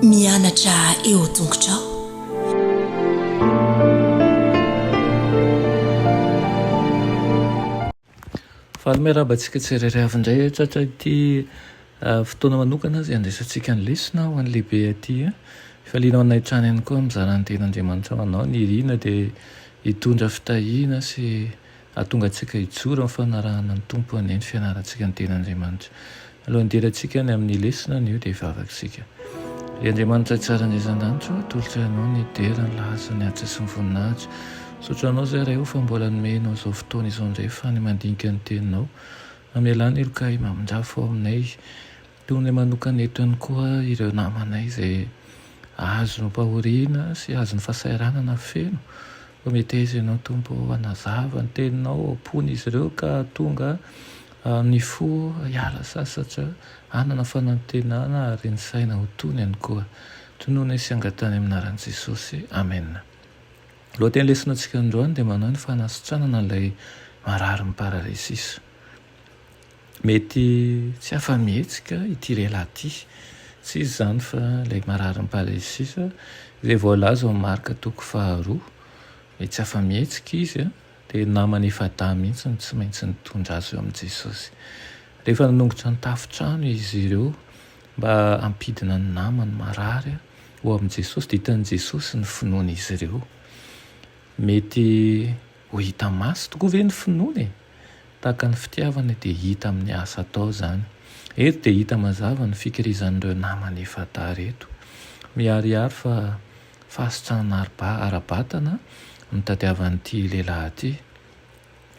Mianatra eo an-tongotrao. Faly miarahaba antsika tsirairay avy indray eh, tratra ity ah, fotoana manokana izay andraisantsika ny lesona ho an'ny lehibe aty. Eh. Falianao anay hatrany ihany koa mizara ny ten'Andriamanitra ho anao. Ny irina dia hitondra fitahiana sy Hahatonga antsika hijoro amin'ny fanarahana ny Tompo anie ny fianarantsika ny Tenin'Andriamanitra. Alohan'ny hidirantsika any amin'ny lesona anio dia hivavaka isika. Ry Andriamanitra tsara indray izan-danitra ô, atolotro Ianao ny hidera ny lahaza, ny asa sy ny voninahitra. Misaotra Anao izahay Ray ô fa mbola nomenao izao fotoana izao indray ahafahany mandinika ny Teninao. Amelà ny heloka Ahy mamindrafo ao aminay. Toy ny manokana etrany koa ireo namanay izay azom-pahoriana sy azon'ny fahasahiranana feno. Prometesa ianao Tompo ô, hanazava ny teninao ao am-pon'izy ireo ka hahatonga ny fo hiala sasatra, hanana fanantenana ary ny saina ho tony ihany koa. Tonony sy angatahiny amin'ny anaran'i Jesosy. Amena. Ny lohatenin'ny lesona antsika androany dia manahy ny fanasitranana ilay marary ny paralysis. Mety tsy afa-mihetsika ity lehilahy ity. Tsy iza izany fa ilay mararin'ny paralysisa, izay voalaza ao amin'ny Marka toko faharoa. Mety tsy afa-mihetsika izy, dia ny namany efa-dahy mihitsy no tsy maintsy nitondra azy eo amin'i Jesosy. Rehefa nanongotra ny tafon-trano izy ireo mba hampidina ny namany marary ho amin'i Jesosy, dia hitan'i Jesosy ny finoan'izy ireo. Mety. Ho hita maso tokoa ve ny finoana e? Tahaka ny fitiavana dia hita amin'ny asa atao izany. Eto dia hita mazava ny fikirizan'ireo namana efa tara eto. Miharihary fa fahasitrahana ara-batana no tadiavan'ity lehilahy ity.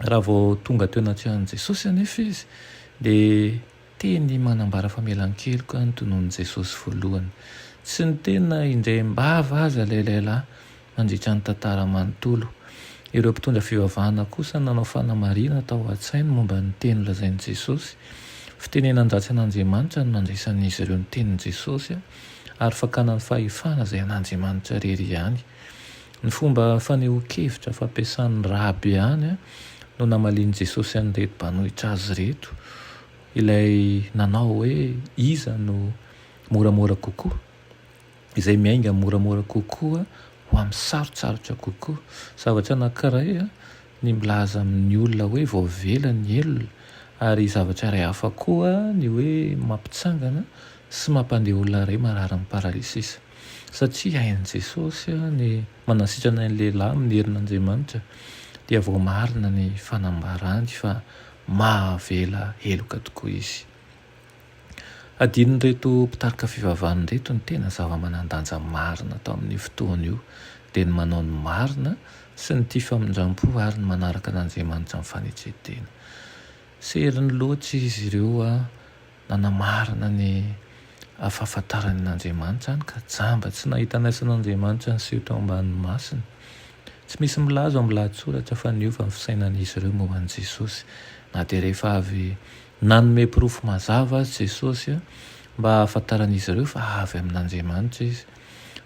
Raha vao tonga teo anatrehan'i Jesosy anefa izy dia. Teny manambara famelan-keloka ny tonon'i Jesosy voalohany. Tsy niteny na indray am-bava aza ilay lehilahy mandritra ny tantara manontolo. Ireo mpitondra fivavahana kosa nanao fanamarihana tao an-tsainy momba ny teny nolazain'i Jesosy. Fitenenan-dratsy an'Andriamanitra no nandraisan'izy ireo ny tenin'i Jesosy, ary fakana ny fahefana izay an'Andriamanitra irery ihany. Ny fomba fanehoan-kevitra fampiasan'ny raby ihany no namalian'i Jesosy an'ireto mpanohitra azy ireto, ilay nanao hoe, Iza no moramora kokoa? Izay miainga moramora kokoa ho amin'ny sarotsarotra kokoa. Zavatra anankiray ny milaza amin'ny olona hoe voavela ny helony, ary zavatra iray hafa koa ny hoe mampitsangana sy mampandeha olona iray mararin'ny paralysisa. Satria hain'i Jesosy ny manasitrana ny lehilahy amin'ny herin'Andriamanitra, dia voamarina ny fanambarany fa mahavela heloka tokoa izy. Adinon'ireto mpitarika fivavahana ireto ny tena zava-manan-danja marina tao amin'io fotoana io, dia ny manao ny marina sy ny tia famindram-po ary ny manaraka an'Andriamanitra amin'ny fanetren-tena. Seriny loatra izy ireo. Nanamarina ny fahafantarany an'Andriamanitra any ka jamba tsy nahita an'aisan' Andriamanitra niseho tao ambanin'ny masony. Tsy misy milaza ao amin'ny lahatsoratra fa niova ny fisainan'izy ireo momba an'i Jesosy, na dia rehefa avy nanome porofo mazava aza Jesosy mba hahafantaran'izy ireo fa avy amin'Andriamanitra izy.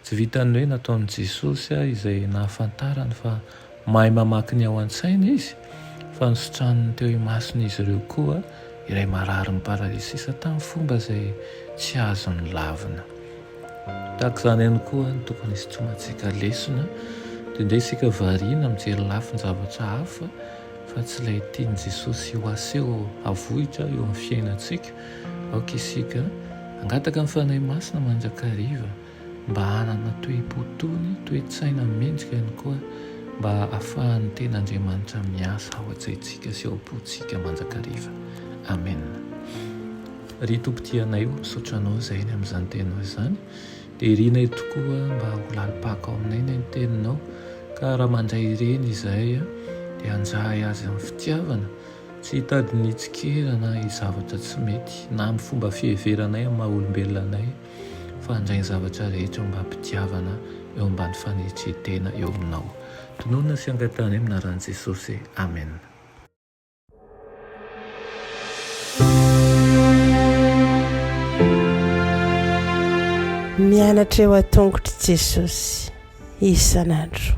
Tsy vitan'ny hoe nataon'i Jesosy izay nahafantarany fa mahay mamaky ny ao an-tsaina Izy, fa nisitraniny teo imason'izy ireo koa ilay marary miparalysisa tamin'ny fomba izay tsy azony lavina. Tahaka izany ihany koa no tokony hisitronantsika lesona, dia ndeha isika variana mijery lafin-javatra hafa fa tsy ilay tian'i Jesosy ho aseho havoitra eo amin'ny fiainantsika, Aoka isika hangataka ny Fanahy Masina mandrakariva mba hanana toe-po tony, toe-tsaina mendrika ihany koa mba hahafahan'ny Teny Andriamanitra miasa ao an-tsaintsika sy ao am-pontsika mandrakariva. Amena. Ry Tompo tianay o, misaotra Anao izahay ny amin'izany Teninao izany. Dia irinay tokoa mba ho lalim-paka ao aminay ny Teninao, ka raha mandray ireny izahay dia hanjahy Azy amin'ny fitiavana, Tsy hitady ny hitsikera na zavatra tsy mety, na amin'ny fomba fiheveranay amin'ny maha olombelona anay, fa handray ny zavatra rehetra mba hampitiavana eo ambany fanetren-tena eo Aminao. Tononina sy angatahanay amin'ny anaran'i Jesosy. Amen. Mianatra eo an-tongotr'i Jesosy isan'andro.